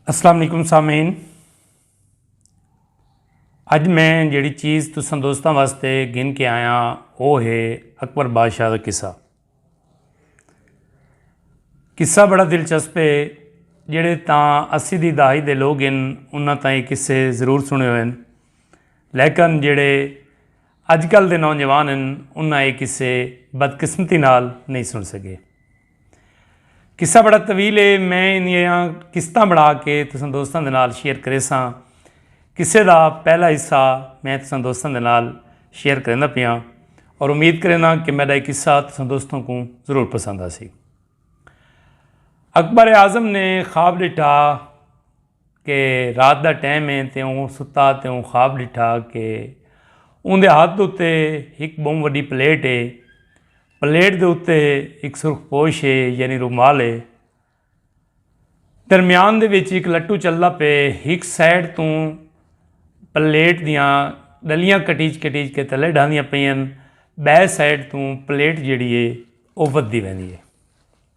السلام علیکم سامعین اج میں جیڑی چیز تساں دوستاں واسطے گن کے آیا وہ ہے اکبر بادشاہ کا قصہ قصہ بڑا دلچسپ ہے جڑے تاں اسی دی دہائی دے لوگ ان انہاں تاں یہ قصے ضرور سنے ہوئے ہیں لیکن جڑے اج کل دے نوجوان ہیں انہاں یہ قصے بدقسمتی نال نہیں سن سکے قصہ بڑا طویل ہے میں انہیاں قسطاں بنا کے تساں دوستاں دے نال شیئر کرے ساں قصے دا پہلا حصہ میں تساں دوستاں دے نال شیئر کرنا پیاں اور امید کرنا کہ میرا ایک قصہ تساں دوستوں کو ضرور پسند آسی اکبر اعظم نے خواب ڈٹا کہ رات دا ٹیم ہے تے اوں ستا تے اوں خواب ڈٹھا کہ اوندے ہتھ اتے ہک بہوں وڈی پلیٹ ہے۔ پلیٹ دے اتے ہک سرخ پوش ہے یعنی رومال ہے۔ درمیان دے وچ ہک لٹو چلدا پئے ہک سائیڈ توں پلیٹ دیاں ڈلیاں کٹیج کٹیج کے تلے ڈھاندیاں پئین بئے سائیڈ توں پلیٹ جیڑی ہے او ودھدی ویندی ہے۔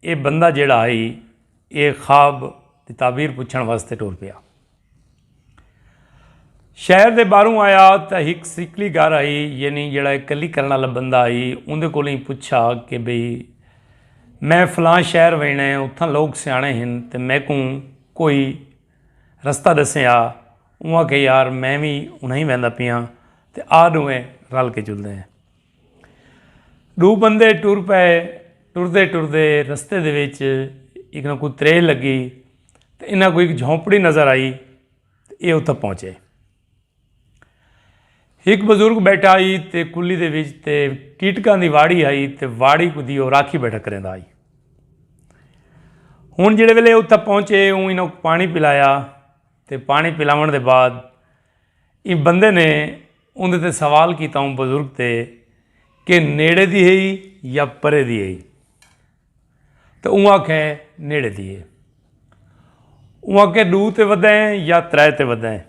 ایہ بندہ جیڑھا ہئی ایہ خواب دی تعبیر پچھݨ واسطے ٹر پیا۔ شہر دے باہروں آیا تاں ہک سیکلی گھر ہئی یعنی جیڑھا ایہ کلی کرݨ آلا بندہ ہئی اوندے کولوں ہی پچھا کہ بھئی میں فلاں شہر ویݨا ہے اتھاں لوک سیاݨے ہن تے میکوں کوئی رستہ ݙسیں آ اوں آکھیا یار میں وی انہاں ہی ویندا پیاں تے آ ݙوہیں رل کے چلدے ہیں۔ ڈو بندے ٹر پئے ٹردے ٹردے رستے دے وچ ایک نہ کوئی تریل لگی تو انہاں کو ایک جھونپڑی نظر آئی تو یہ اتھا پہنچے ایک بزرگ بیٹھا آئی تے کلی دے وچ تے ٹیٹکاں دی واڑی آئی تے واڑی کو دیو راکھی بیٹھا کریں دا آئی ہون جڑے ویلے اتھا پہنچے ہوں انہوں پانی پلایا تے پانی پلاون دے بعد ایں بندے نے اوندے تے سوال کیتا اوں بزرگ تے کہ نیڑے دی ہئی یا پرے دی ہئی تے اوں آکھے نیڑے دی ہے اوں آکھے ڈو تے ودا ہے یا ترے تے ودا ہے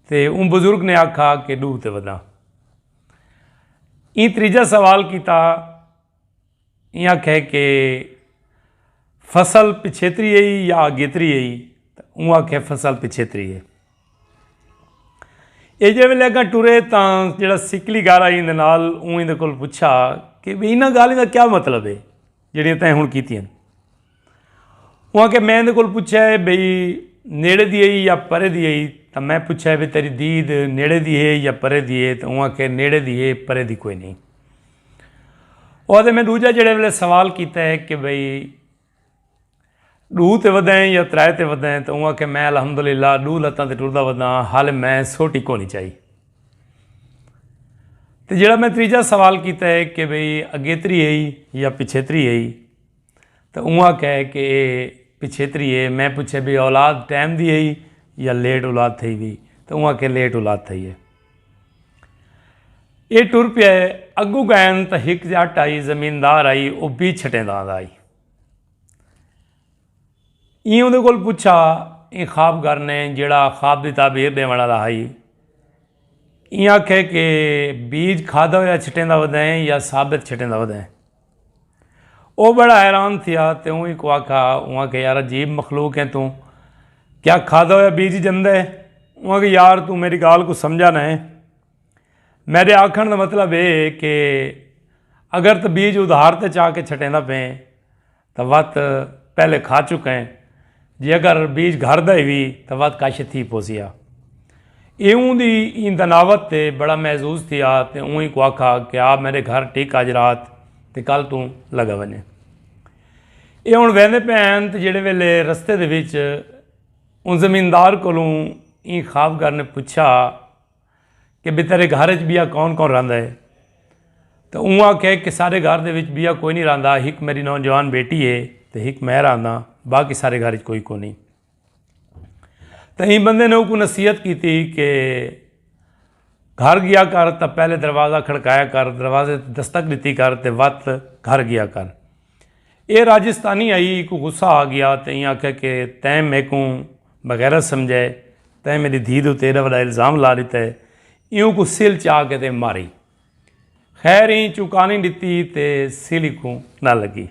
تے اوں بزرگ نے آکھا کہ ڈو تے ودا ایں تریجا سوال کیتا ایں آکھیا کہ فصل پچھیتری ہئی یا آگیتری ہئی تاں اوں آکھیا فصل پچھیتری ہے۔ اے جے ویلے اگاں ٹرے تاں جیڑھا سکلی گھر آئی ایندے نال اوں ایندے کول پچھا کہ انہاں گالھیں دا کیا مطلب ہے جیڑھیاں تیں ہن کیتیاں۔ اوہاں کہ میں ایندے کول پچھیا ہے بھئی نیڑے دی ہئی یا پرے دی ہئی تاں میں پچھیا ہے بھئی تیڈی دید نیڑے دی ہے یا پرے دی ہے تاں اوہاں کہ نیڑے دی ہے پرے دی کوئی نہیں اوہاں دے میں ڈوجا جڑے ویلے سوال کیتا ہے کہ بھئی ڈو تے ودائیں یا ترائے تے ودائیں تاں اوہاں کہ میں الحمدللہ ڈو لتاں تے ٹردہ ودائیں حال میں سوٹی کو نہیں چاہی تے جڑا میں تریجہ سوال کیتا ہے کہ بھئی اگیتری ہئی یا پچھیتری ہئی تاں اونہاں کہے کہ ایہ پچھیتری ہے، میں پچھے بھئی اولاد ٹائم دی ہئی یا لیٹ اولاد تھئی وی تاں اونہاں کہے لیٹ اولاد تھئی ہے۔ ایہ ٹر پیا ہے، اگوں گئن تاں ہک جٹ آئی زمیندار آئی او بی چھٹیندا آندا ہئی۔ ایں اوندے کول پچھا ایں خواب گر نے جیڑھا خواب دی تعبیر ڈیوݨ آلا ہئی۔ ایں آکھے کہ بیج کھادا ہویا چھٹیندا ودیں یا ثابت چھٹیندا ودیں۔ او بڑا حیران تھیا تے اوں اکوں آکھا اوں آکھے یار عجیب مخلوق ہیں توں کیا کھادا ہویا بیج جندے ہے اوں آکھے یار توں میری گال کو سمجھا نہ ہے میرے آکھن دا مطلب اے کہ اگر تو بیج ادھار تے چاہ کے چھٹیندا پیں تو وت پہلے کھا چکا ہیں جے اگر بیج گھر دا ہوی تاں ودھ کاشت تھی پوسی ہا۔ ایہوں دی ایں دناوت تے بڑا محظوظ تھیا تے اوں اینکوں آکھا کہ آ میڈے گھر ٹک اج رات تے کل توں لگا ونجے۔ ایہ ہن ویندے پئے ہن تے جیڑھے ویلے رستے دے وچ اوں زمیندار کولوں ایں خوابگر نے پچھا۔ کہ بھئی تیرے گھر اچ بیا کون کون رہندا ہے تے اوں آکھیا کہ سارے گھر دے وچ بیا کوئی نی رہندا ہک میری نوجوان بیٹی ہے تے ہک میں رہنداں باقی سارے گھر اچ کوئی کونی تے ایں بندے نے اوکوں نصیحت کیتی کہ گھر گیا کر تے پہلے دروازہ کھڑکایا کر دروازے تے دستک ڈتی کر تے وت گھر گیا کر ایہ راجستانی آئی کوں غصہ آ گیا تے ایہاں آکھیا کہ تیں میکوں بغیرت سمجھا ہے، تیں میڈی دھی دے اتے ایڈا وڈا الزام لا ڈتا ہے، ایہوں کوں سل چا کے تے ماری۔ خیر ایں چوکانی ڈتی تے سل ایکوں نہ لگی۔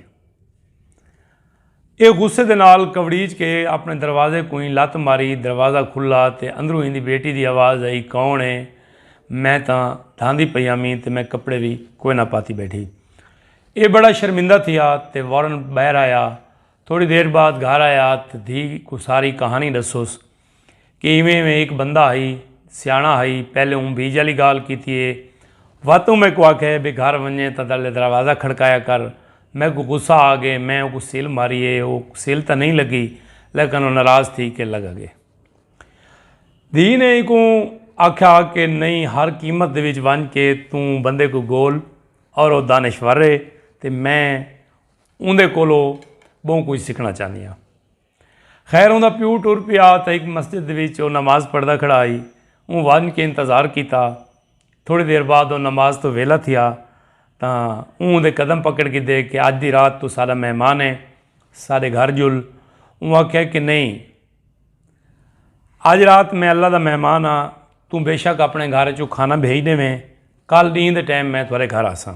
ایہ غصے دے نال کبڑیچ کے اپنے دروازے کوں ایں لت ماری، دروازہ کھلا تے اندروں ایندی بیٹی دی آواز آئی کون ہے؟ میں تاں دھاندی پئی آمیں تے میں کپڑے وی کوئنہ پاتی بیٹھی۔ ایہ بڑا شرمندہ تھیا تے وارن ٻاہر آیا۔ تھوڑی دیر بعد گھر آیا تے دھی کوں ساری کہانی ݙسوس کہ ایویں ایویں ہک بندہ ہئی، سیاݨا ہئی، پہلے اوں بیج آلی ڳالھ کیتی اے، وت اوں میکوں آکھیا اے بھئی گھر ونڄیں تاں تلے دروازہ کھڑکایا کر، میکوں غصہ آ ڳئے، میں اوکوں سل ماری اے، او سل تاں نئیں لڳی لیکن او ناراض تھی کے لڳ ڳئے۔ دھی نے ایکوں آکھیا کہ نئیں ہر قیمت دے وچ ونڄ کے توں بندے کوں ڳول اور او دانشور ہے تے میں اوندے کولو بہوں کچھ سکھنا چاہندی ہاں خیر اوندا پیو ٹر پیا تے ایک مسجد وچ او نماز پڑھدا کھڑا آئی اون ون کے انتظار کیتا تھوڑی دیر بعد او نماز تو ویلا تھیا تا اون دے قدم پکڑ کے دے کہ اج دی رات تو سارا مہمان ہے سارے گھر جل اون آکھیا کہ نہیں اج رات میں اللہ دا مہمان ہاں توں بے شک اپنے گھر چوں کھانا بھیج ڈیویں کل ڈینہہ دے ٹائم میں تھوڑے گھر آساں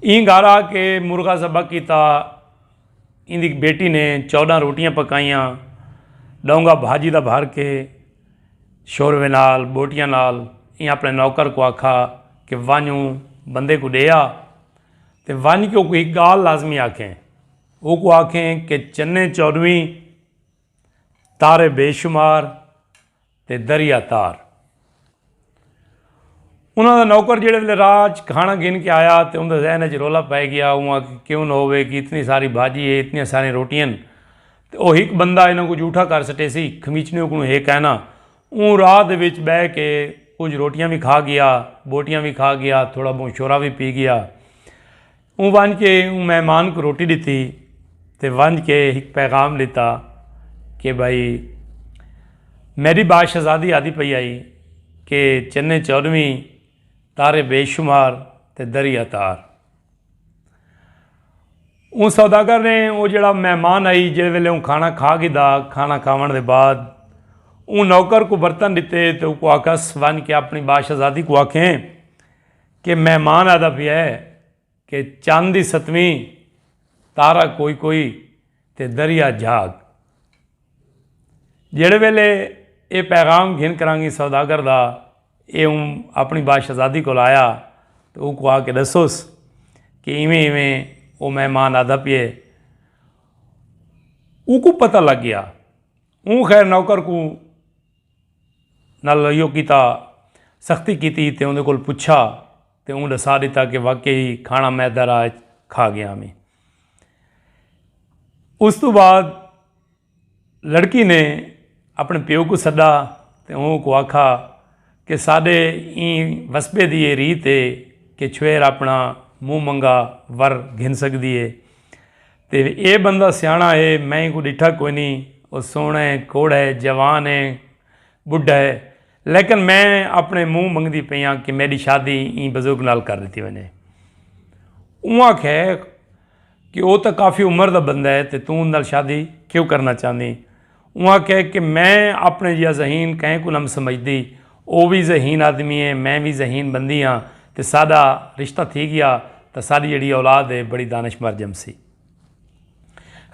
ایں گھر آ کے مرغا ذبح کیتا ایں دی بیٹی نے چودہ روٹیاں پکائیاں ڈونگا بھاجی دا بھر کے شوروے نال بوٹیاں نال ایں اپنے نوکر کو آکھا کہ ونجوں بندے کو ڈے آ تے ونج کے کوئی گال لازمی آکھیں اوکوں آکھیں کہ چنیں چورویں، تارے بے شمار تے دریا تار۔ انہاں دا نوکر جیڑھے ویلے راہ ءچ کھانا گھن کے آیا تے اوندے ذہن ءچ رولا پئے گیا اوں آکھے کیوں نہ ہووے کہ اتنی ساری بھاجی ہے اتنیاں ساریاں روٹیاں ہن تے او ہک بندہ انہاں کوں جھوٹا کر سٹیسی خمیچنیں اکوں ہے کائنا اوں راہ دے وچ بہہ کے کجھ روٹیاں وی کھا گیا بوٹیاں وی کھا گیا تھوڑا بہوں شورا وی پی گیا۔ اوں ونج کے اوں مہمان کو روٹی ڈتی تے ونج کے ہک پیغام ڈتا کہ بھائی میڈی با شہزادی آدی پئی آئی کہ چنے چونویں تارے بے شمار تے دریا تار۔ اوں سوداگر نے او جڑا مہمان آئی جڑے ویلے اوں کھانا کھا گھدا کھانا کھاون دے بعد اوں نوکر کو برتن ڈتے تے او کو آکھس ونج کے اپنی با شہزادی کو آکھیں کہ مہمان آہدا پیا ہے کہ چن دی ستویں تارا کوئی کوئی تے دریا جھاگ۔ جیڑھے ویلے ایہ پیغام گھن کرانگی سوداگر دا ایہ اوں اپنی با شہزادی کول آیا تے اوکوں آ کے ڈسوس کہ ایویں ایویں او مہمان آہدا پیے۔ اوکوں پتہ لگ گیا۔ اوں خیر نوکر کوں۔ نال ایہو کیتا، سختی کیتی تے اوندے کول پچھا تے اوں ڈسا ڈتا کہ واقعی ہی کھانا معدہ راہ اچ کھا گیاں میں۔ اس توں بعد لڑکی نے اپنے پیو کوں سڈا تے اوں کوں آکھا کہ ساڈے ایں وسبے دی ایہ ریت ہے کہ چھوہر اپنا منہ منگا ور گھن سگدی ہے۔ تے ایہ بندہ سیاݨا ہے، میں اینکوں ݙٹھا کوئنی، او سوہݨا ہے، کوڑھا ہے، جوان ہے، ٻڈھا ہے، لیکن میں اپݨے منہ منگدی پئی ہاں کہ میݙی شادی ایں بزرگ نال کر ݙتی ونڄے۔ اوں آکھیا کہ او تاں کافی عمر دا بندہ ہے تے توں اوندے نال شادی کیوں کرݨا چاہندیں؟ اوں آکھیا کہ میں اپݨے جیہا ذہین کہیں کوں نم سمجھدی، او وی ذہین آدمی اے، میں وی ذہین بندی ہاں تے ساݙا رشتہ تھی ڳیا تاں ساݙی جیڑھی اولاد اے بڑی دانشمر ڄمسی۔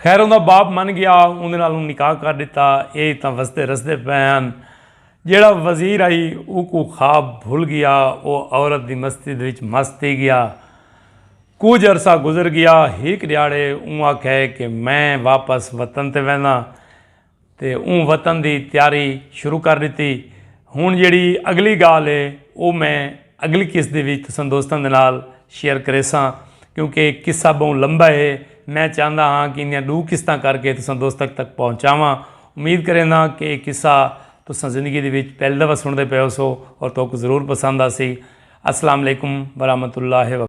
خیر اوندا باپ من ڳیا اوندے نال اوں نکاح کر ݙتا، اے تاں وسدے رسدے پئے ہن۔ جیڑھا وزیر ہئی اوکوں خواب بھل ڳیا، او عورت دی مستی دے وچ مست تھی ڳیا۔ کجھ عرصہ گزر گیا ہک ڈیہاڑے اوں آکھے کہ میں واپس وطن تے وینداں تے اوں وطن دی تیاری شروع کر ڈتی ہن جیڑھی اگلی گالھ اے او میں اگلی قسط دے وچ تساں دوستاں دے نال شیئر کریساں کیونکہ اے قصہ بہوں لمبا اے میں چاہندا ہاں کہ ایندیاں ڈو قسطاں کر کے تساں دوستک تک پہنچاواں امید کرینداں کہ اے قصہ تساں زندگی دے وچ پہلی دفعہ سنڑدے پئے ہوسو اور تہاکوں ضرور پسند آسی السلام علیکم ورحمۃ اللہ وب۔